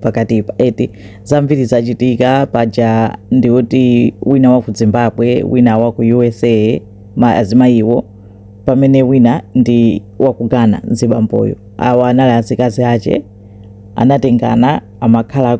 pakatipa eti zambiri zachitika paja ndikuti wina wa ku zimbabwe wina wa ku usa azimayiwo pamene wina ndi wa ku ghana mzibamboyo awa anali azikazi ache anatengana amakhala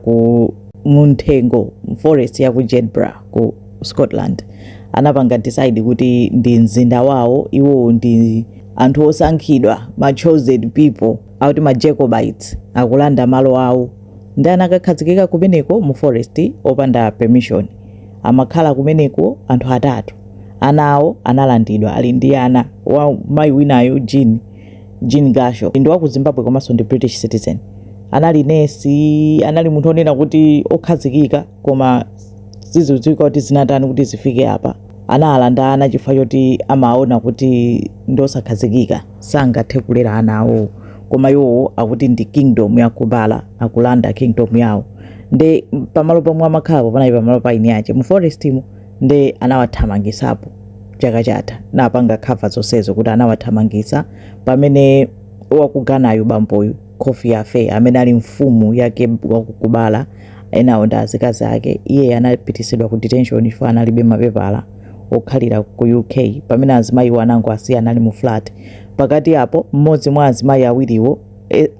munthengo mu forest ya ku jedburgh ku scotland anapanga decide kuti ndi mzinda wawo iwowo ndi anthu osankhidwa ma chosen people akuti ma Jacobites akulanda malo awo ndi anakakhazikika kumeneko mu forest opanda permission amakhala kumeneko anthu atatu ana awo analandidwa ali ndi ana wa mayi winayo Jean Jean Gasho ndi wa ku Zimbabwe komanso ndi British citizen anali nesi anali munthu onena kuti okhazikika koma sizidziwika kuti zinatani kuti zifike apa anawalanda ana chifukwa choti amaona kuti ndi osakhazikika sangathe kulera ana awowo koma iwowo akuti ndi kingdom ya kubala akulanda kingdom yawo nde pamalo pomwe amakhalapo panali pamalo pa eni ache mu forestmo nde anawathamangisapo chaka chatha napanga khava zonsezo kuti anawathamangisa pamene wa ku Ghanayu bamboyu Kofi Offeh, amene ali mfumu ya ku Kubala, enawo ndi azikazi ake. Iye anapitisidwa ku detention chifukwa analibe mapepala okhalira ku UK. Pamene azimayiwo anangoasiya anali mu flat. Pakati apo, mmodzi mwa azimayi awiriwo,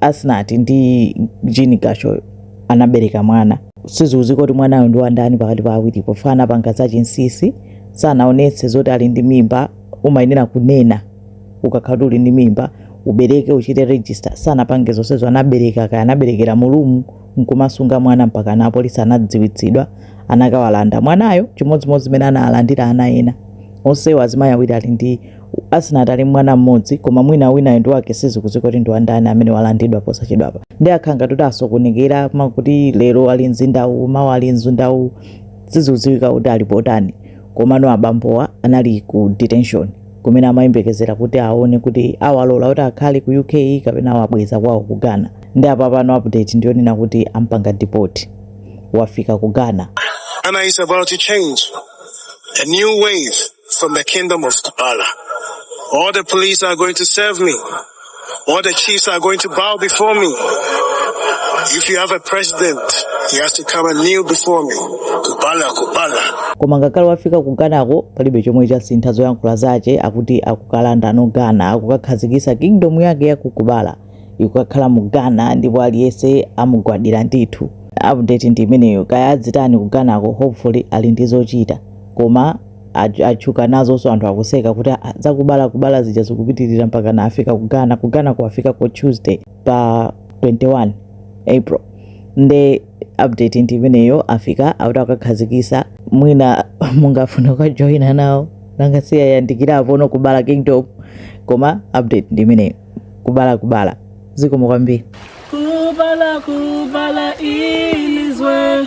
Asnat ndi Jean Gasho, anabereka mwana. Sizidziwika kuti mwanayo ndi wandani pakati pa awiripo chifukwa anapanga zachinsisi, sanaonetse zoti ali ndi mimba. Umayenera kunena. ukakhala uli ndi mimba ubereke uchite register sanapange zonsezo anabereka kaya anaberekera mulumu nkumasunga mwana mpakana apolisi anadziwitsidwa anakawalanda mwanayo chimodzimodzi zimene analandidwa ana ena onsewo azimayi awiri ali ndi Asnat ali ndi mwana mmodzi koma mwina winayo ndi wake sizikudziwika kuti ndi wandani amene walandidwa posachedwapa ndi akhala ngati asokonekera akuti lero ali mzindawu mawa ali mzindawu sizikudziwika kuti ali potani komano abambowa anali ku detention kumene amayembekezera kuti aone kuti awalola kuti akhale ku uk kapena awabweza kwawo ku ghana nde apa pano update ndiyonena kuti ampanga deport wafika ku ghana Ghana is about to change. A new wave from the kingdom of Kubala. All the police are going to serve me. All the chiefs are going to bow before me. Even the president, he has to come and kneel before me. Kubala, kubala. koma ngakhale wafika ku ghanako palibe chomwe chasintha zoyankhula zache akuti akukalandano ghana akukakhazikitsa kingdom yake yakukubala ikukakhala mu ghana ndipo aliyense amugwadira ndithu update ndi imeneyo kaya azitani ku ghanako hopefully ali ndi zochita koma Atch- atchuka nazonso anthu akuseka kuti "Ah, zakubala kubala zija zikupitirira mpaka na afika ku ghana ku ghana kuafika ko tuesday pa 21 april nde update ndi imeneyo afika akuti akakhazikisa mwina mungafuna kukajoyina nawo nanga si yayandikirapo no kubala kingdom koma update ndi imeneyo kubala kubala zikomo kwambiri Kubala, Kubala, Ilizwe.